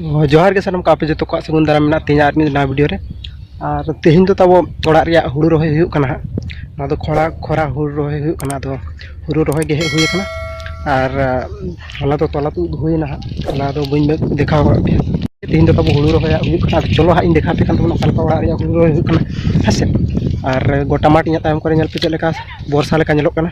ᱡᱚᱦᱟᱨ ᱜᱮ ᱥᱟᱱᱟᱢ ᱠᱟᱯᱮ ᱡᱚᱛᱚ ᱠᱚᱣᱟᱜ ᱥᱟᱹᱜᱩᱱ ᱫᱟᱨᱟᱢ ᱢᱮᱱᱟᱜ ᱛᱤᱧᱟ ᱟᱨ ᱢᱤᱫ ᱱᱟᱣᱟ ᱵᱷᱤᱰᱤᱭᱳ ᱨᱮ ᱟᱨ ᱛᱮᱦᱮᱧ ᱫᱚ ᱛᱟᱵᱚ ᱚᱲᱟᱜ ᱨᱮᱭᱟᱜ ᱦᱩᱲᱩ ᱨᱚᱦᱚᱭ ᱦᱩᱭᱩᱜ ᱠᱟᱱᱟ ᱦᱟᱸᱜ ᱱᱚᱣᱟ ᱫᱚ ᱠᱷᱚᱨᱟ ᱠᱷᱚᱨᱟ ᱦᱩᱲᱩ ᱨᱚᱦᱚᱭ ᱦᱩᱭᱩᱜ ᱠᱟᱱᱟ ᱟᱫᱚ ᱦᱩᱲᱩ ᱨᱚᱦᱚᱭ ᱜᱮ ᱦᱮᱡ ᱦᱩᱭ ᱠᱟᱱᱟ ᱟᱨ ᱦᱚᱞᱟ ᱫᱚ ᱛᱚᱞᱟ ᱛᱩᱫ ᱦᱩᱭᱱᱟ ᱦᱟᱸᱜ ᱦᱚᱞᱟ ᱫᱚ ᱵᱟᱹᱧ ᱫᱮᱠᱷᱟᱣ ᱠᱟᱜ ᱯᱮᱭᱟ ᱛᱮᱦᱮᱧ ᱫᱚ ᱛᱟᱵᱚ ᱦᱩᱲᱩ ᱨᱚᱦᱚᱭᱟᱜ ᱦᱩᱭᱩᱜ ᱠᱟᱱᱟ ᱟᱫᱚ ᱪᱚᱞᱚ ᱦᱟᱸᱜ ᱤᱧ ᱫᱮᱠᱷᱟᱣ ᱯᱮ ᱠᱟᱱ ᱛᱟᱵᱚᱱᱟ ᱚᱠᱟ ᱞᱮᱠᱟ ᱚᱲᱟᱜ ᱨᱮᱭᱟᱜ ᱦᱩᱲᱩ ᱨᱚᱦᱚᱭ ᱦᱩᱭᱩᱜ ᱠᱟᱱᱟ ᱦᱮᱸ ᱥᱮ ᱟᱨ ᱜᱚᱴᱟ ᱢᱟᱴᱷ ᱤᱧᱟᱹᱜ ᱛᱟᱭᱚᱢ ᱠᱚᱨᱮ ᱧᱮᱞ ᱯᱮ ᱪᱮᱫ ᱞᱮᱠᱟ ᱵᱚᱨᱥᱟ ᱞᱮᱠᱟ ᱧᱮᱞᱚᱜ ᱠᱟᱱᱟ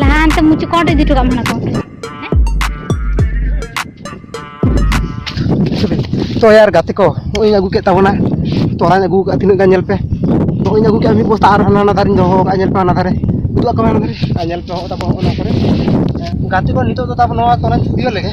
ᱞᱟᱦᱟᱱᱛᱮ ᱢᱩᱪᱩ ᱠᱚᱸᱰ ᱤᱫᱤ ᱦᱚᱴᱚ ᱠᱟᱜ ᱢᱮ ᱠᱚᱸᱰ ᱛᱚ ᱭᱟᱨ ᱜᱟᱛᱮ ᱠᱚ ᱱᱚᱜᱼᱚᱭ ᱟᱹᱜᱩ ᱠᱮᱫ ᱛᱟᱵᱚᱱᱟ ᱛᱚᱨᱟᱧ ᱟᱹᱜᱩ ᱠᱟᱜᱼᱟ ᱛᱤᱱᱟᱹᱜ ᱜᱟᱱ ᱧᱮᱞ ᱯᱮ ᱱᱚᱜᱼᱚᱭ ᱟᱹᱜᱩ ᱠᱮᱫᱼᱟ ᱢᱤᱫ ᱵᱚᱥᱛᱟ ᱟᱨ ᱦᱟᱱᱟ ᱦᱟᱱᱟ ᱫᱟᱨᱮᱧ ᱫᱚᱦᱚ ᱠᱟᱜᱼᱟ ᱧᱮᱞ ᱯᱮ ᱦᱟᱱᱟ ᱫᱟᱨᱮ ᱩᱫᱩᱜ ᱟᱠᱚ ᱢᱮ ᱦᱟᱱᱟ ᱫᱟᱨᱮ ᱟᱨ ᱧᱮᱞ ᱯᱮ ᱦᱚᱸᱜᱼᱚ ᱛᱟᱵᱚᱱ ᱦᱚᱸᱜᱼᱚ ᱱᱟ ᱠᱚᱨᱮ ᱜᱟᱛᱮ ᱠᱚ ᱱᱤᱛᱚᱜ ᱫᱚ ᱛᱟᱵᱚᱱ ᱱᱚᱣᱟ ᱛᱚᱨᱟᱧ ᱤᱫᱤᱭ ᱞᱮᱜᱮ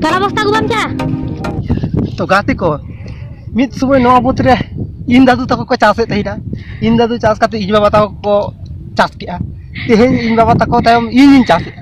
ᱛᱟᱨᱟ ᱵᱚᱥᱛᱟ ᱟᱹᱜᱩ ᱵᱟᱢ ᱪᱟᱜᱼᱟ ᱛᱚ ᱜᱟᱛᱮ ᱠᱚ ᱢᱤᱫ ᱥᱚᱢᱚᱭ ᱱᱚᱣᱟ ᱵᱩᱛ ᱨᱮ ᱤᱧ ᱫᱟᱫᱩ ᱛᱟᱠᱚ ᱠᱚ ᱪᱟᱥᱮᱫ ᱛᱟᱦᱮᱱᱟ ᱤᱧ ᱫᱟᱫᱩ ᱪᱟᱥ ᱠᱟᱛᱮ ᱤᱧ ᱵᱟᱵᱟ ᱛᱟᱠᱚ ᱠᱚ ᱪᱟᱥ ᱠᱮᱜᱼᱟ ᱛᱮᱦᱮᱧ ᱤᱧ ᱵᱟᱵᱟ ᱛᱟᱠᱚ ᱛᱟᱭᱚᱢ ᱤᱧᱤᱧ ᱪᱟᱥᱮᱫᱼᱟ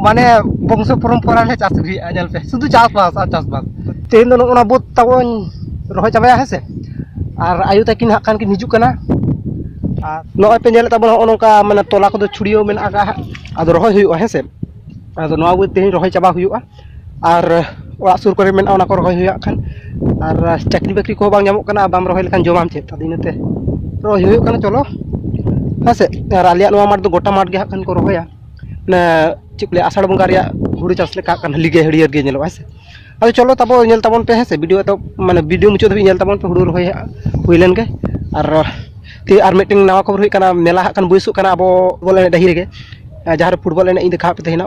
ᱢᱟᱱᱮ ᱵᱚᱝᱥᱚ ᱯᱚᱨᱚᱢᱯᱚᱨᱟ ᱞᱮ ᱪᱟᱥ ᱟᱹᱜᱩᱭᱮᱫᱼᱟ ᱧᱮᱞ ᱯᱮ ᱥᱩᱫᱷᱩ ᱪᱟᱥᱵᱟᱥ ᱟᱨ ᱪᱟᱥᱵᱟᱥ ᱛᱮᱦᱮᱧ ᱫᱚ ᱱᱚᱜᱼᱚ ᱱᱟ ᱵᱟᱹᱫᱽ ᱛᱟᱵᱚᱱ ᱨᱚᱦᱚᱭ ᱪᱟᱵᱟᱭᱟ ᱦᱮᱸ ᱥᱮ ᱟᱨ ᱟᱭᱳ ᱛᱟᱹᱠᱤᱱ ᱦᱟᱸᱜ ᱠᱷᱟᱱ ᱠᱤᱱ ᱦᱤᱡᱩᱜ ᱠᱟᱱᱟ ᱟᱨ ᱱᱚᱜᱼᱚᱭ ᱯᱮ ᱧᱮᱞᱮᱫ ᱛᱟᱵᱚᱱᱟ ᱱᱚᱜᱼᱚ ᱱᱚᱝᱠᱟ ᱢᱟᱱᱮ ᱛᱚᱞᱟ ᱠᱚᱫᱚ ᱪᱷᱩᱲᱭᱟᱹᱣ ᱢᱮᱱᱟᱜ ᱟᱠᱟᱫᱼᱟ ᱦᱟᱸᱜ ᱟᱫᱚ ᱨᱚᱦᱚᱭ ᱦᱩᱭᱩᱜᱼᱟ ᱦᱮᱸ ᱥᱮ ᱟᱫᱚ ᱱᱚᱣᱟ ᱠᱚ ᱛᱮᱦᱮᱧ ᱨᱚᱦᱚᱭ ᱪᱟᱵᱟ ᱦᱩᱭᱩᱜᱼᱟ ᱟᱨ ᱚᱲᱟᱜ ᱥᱩᱨ ᱠᱚᱨᱮ ᱢᱮᱱᱟᱜᱼᱟ ᱚᱱᱟ ᱠᱚ ᱨᱚᱦᱚᱭ ᱦᱩᱭᱩᱜᱼᱟ ᱦᱟᱸᱜ ᱠᱷᱟᱱ ᱟᱨ ᱪᱟᱹᱠᱨᱤ ᱵᱟᱹᱠᱨᱤ ᱠᱚᱦᱚᱸ ᱵᱟᱝ ᱧᱟᱢᱚᱜ ᱠᱟᱱᱟ ᱵᱟᱢ ᱨᱚᱦᱚᱭ ᱞᱮᱠᱷᱟᱱ ᱡᱚᱢᱟᱢ ᱪᱮᱫ ᱟᱫᱚ ᱤᱱᱟᱹᱛᱮ ᱨᱚᱦᱚᱭ ᱦᱩᱭᱩᱜ ᱠᱟᱱᱟ ᱪᱚᱞᱚ ᱦᱮᱸ ᱥᱮ ᱟᱨ ᱟᱞᱮᱭᱟᱜ ᱱᱚᱣᱟ ᱢᱟᱴᱷ ᱫᱚ ᱜᱳᱴᱟ ᱢᱟᱴᱷ ᱜᱮ ᱦᱟᱸᱜ ᱠᱷᱟᱱ ᱠᱚ ᱨᱚᱦᱚᱭᱟ ᱚᱱᱟ ᱪᱮᱫ ᱠᱚ ᱞᱟᱹᱭᱟ ᱟᱥᱟᱲ ᱵᱚᱸᱜᱟ ᱨᱮᱭᱟᱜ ᱦᱩᱲᱩ ᱪᱟᱥ ᱞᱮᱠᱟ ᱦᱟᱸᱜ ᱠᱷᱟᱱ ᱦᱟᱹᱞᱤ ᱜᱮ ᱦᱟᱹᱨᱭᱟᱹᱲ ᱜᱮ ᱧᱮᱞᱚᱜᱼᱟ ᱦᱮᱸ ᱥᱮ ᱟᱫᱚ ᱪᱚᱞᱚ ᱛᱟᱵᱚ ᱧᱮᱞ ᱛᱟᱵᱚᱱ ᱯᱮ ᱦᱮᱸ ᱥᱮ ᱵᱷᱤᱰᱤᱭᱳ ᱮᱛᱚᱦᱚᱵ ᱢᱟᱱᱮ ᱵᱷᱤᱰᱤᱭᱳ ᱢᱩᱪᱟᱹᱫ ᱫᱷᱟᱹᱵᱤᱡ ᱧᱮᱞ ᱛᱟᱵᱚᱱ ᱯᱮ ᱦᱩᱲᱩ ᱨᱚᱦᱚᱭ ᱦᱟᱸᱜ ᱦᱩᱭ ᱞᱮᱱᱜᱮ ᱟᱨ ᱛᱮᱦᱤᱧ ᱟᱨ ᱢᱤᱫᱴᱮᱱ ᱱᱟᱣᱟ ᱠᱷᱚᱵᱚᱨ ᱦᱩᱭᱩᱜ ᱠᱟᱱᱟ ᱢᱮᱞᱟ ᱦᱟᱸᱜ ᱠᱷᱟᱱ ᱵᱟᱹᱭᱥᱟᱹᱜ ᱠᱟᱱᱟ ᱟᱵᱚ ᱵᱚᱞ ᱮᱱᱮᱡ ᱰᱟᱹᱦᱤ ᱨᱮᱜᱮ ᱡᱟᱦᱟᱸᱨᱮ ᱯᱷᱩᱴᱵᱚᱞ ᱮᱱᱮᱡ ᱤᱧ ᱫᱮᱠᱷᱟᱣᱟᱫ ᱯᱮ ᱛᱟᱦᱮᱱᱟ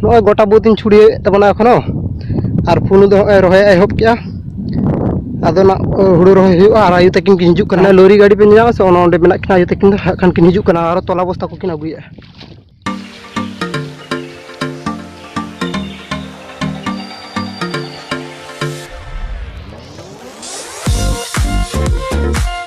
ᱱᱚᱜᱼᱚᱭ ᱜᱚᱴᱟ ᱵᱟᱹᱫᱽ ᱤᱧ ᱪᱷᱩᱲᱭᱟᱹᱣᱮᱫ ᱛᱟᱵᱚᱱᱟ ᱮᱠᱷᱚᱱᱳ ᱟᱨ ᱯᱩᱱᱩ ᱫᱚ ᱱᱚᱜᱼᱚᱭ ᱨᱚᱦᱚᱭ ᱮᱦᱚᱵ ᱠᱮᱜᱼᱟ ᱟᱫᱚ ᱱᱟᱜ ᱦᱩᱲᱩ ᱨᱚᱦᱚᱭ ᱦᱩᱭᱩᱜᱼᱟ ᱟᱨ ᱟᱭᱳ ᱛᱟᱹᱠᱤᱱ ᱠᱤᱱ ᱦᱤᱡᱩᱜ ᱠᱟᱱᱟ ᱞᱳᱨᱤ ᱜᱟᱹᱰᱤ ᱯᱮ ᱧᱟᱢᱟ ᱥᱮ ᱚᱱᱟ ᱚᱸᱰᱮ ᱢᱮᱱᱟᱜ ᱠᱤᱱᱟ ᱟᱭᱳ ᱛᱟᱹᱠᱤᱱ ᱫᱚ ᱦᱟᱸᱜ ᱠᱷᱟᱱ ᱠᱤᱱ ᱦᱤᱡᱩᱜ ᱠᱟᱱᱟ ᱟᱨ ᱛᱚᱞᱟ ᱵᱚᱥᱛᱟ ᱠᱚᱠᱤᱱ ᱟᱹᱜᱩᱭᱮᱫᱼᱟ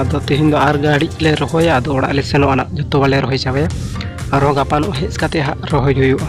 ᱟᱫᱚ ᱛᱮᱦᱮᱧ ᱫᱚ ᱟᱨ ᱜᱟᱹᱲᱤ ᱞᱮ ᱨᱚᱦᱚᱭᱟ ᱟᱫᱚ ᱚᱲᱟᱜ ᱞᱮ ᱥᱮᱱᱚᱜᱼᱟ ᱱᱟᱜ ᱡᱚᱛᱚ ᱵᱟᱞᱮ ᱨᱚᱦᱚᱭ ᱪᱟᱵᱟᱭᱟ ᱟᱨᱦᱚᱸ ᱜᱟᱯᱟ ᱱᱚᱜ ᱦᱮᱡ ᱠᱟᱛᱮ ᱦᱟᱸᱜ ᱨᱚᱦᱚᱭ ᱦᱩᱭᱩᱜᱼᱟ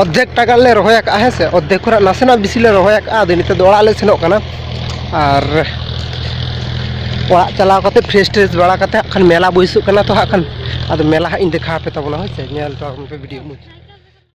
ᱚᱨᱫᱷᱮᱠ ᱴᱟᱠᱟ ᱞᱮ ᱨᱚᱦᱚᱭ ᱟᱠᱟᱫᱼᱟ ᱦᱮᱸ ᱥᱮ ᱚᱨᱫᱷᱮᱠ ᱠᱷᱚᱱᱟᱜ ᱱᱟᱥᱮᱱᱟᱜ ᱵᱮᱥᱤ ᱞᱮ ᱨᱚᱦᱚᱭ ᱟᱠᱟᱫᱼᱟ ᱟᱫᱚ ᱱᱤᱛᱚᱜ ᱫᱚ ᱚᱲᱟᱜ ᱞᱮ ᱥᱮᱱᱚᱜ ᱠᱟᱱᱟ ᱟᱨ ᱚᱲᱟᱜ ᱪᱟᱞᱟᱣ ᱠᱟᱛᱮ ᱯᱷᱨᱮᱥ ᱴᱨᱮᱥ ᱵᱟᱲᱟ ᱠᱟᱛᱮ ᱦᱟᱸᱜ ᱠᱷᱟᱱ ᱢᱮᱞᱟ ᱵᱟᱹᱭᱥᱟᱹᱜ ᱠᱟᱱᱟ ᱛᱚ ᱦᱟᱸᱜ ᱠᱷᱟᱱ ᱟᱫᱚ ᱢᱮᱞᱟ ᱦᱟᱸᱜ ᱤᱧ ᱫᱮᱠᱷᱟᱣ ᱟᱯᱮ ᱛᱟᱵᱚᱱᱟ ᱦᱳᱭ ᱥᱮ ᱧᱮᱞ ᱦᱚᱪᱚ ᱟᱵᱚᱱ ᱯᱮ ᱵᱷᱤᱰᱤᱭᱳ ᱢᱚᱫᱽᱫᱷᱮ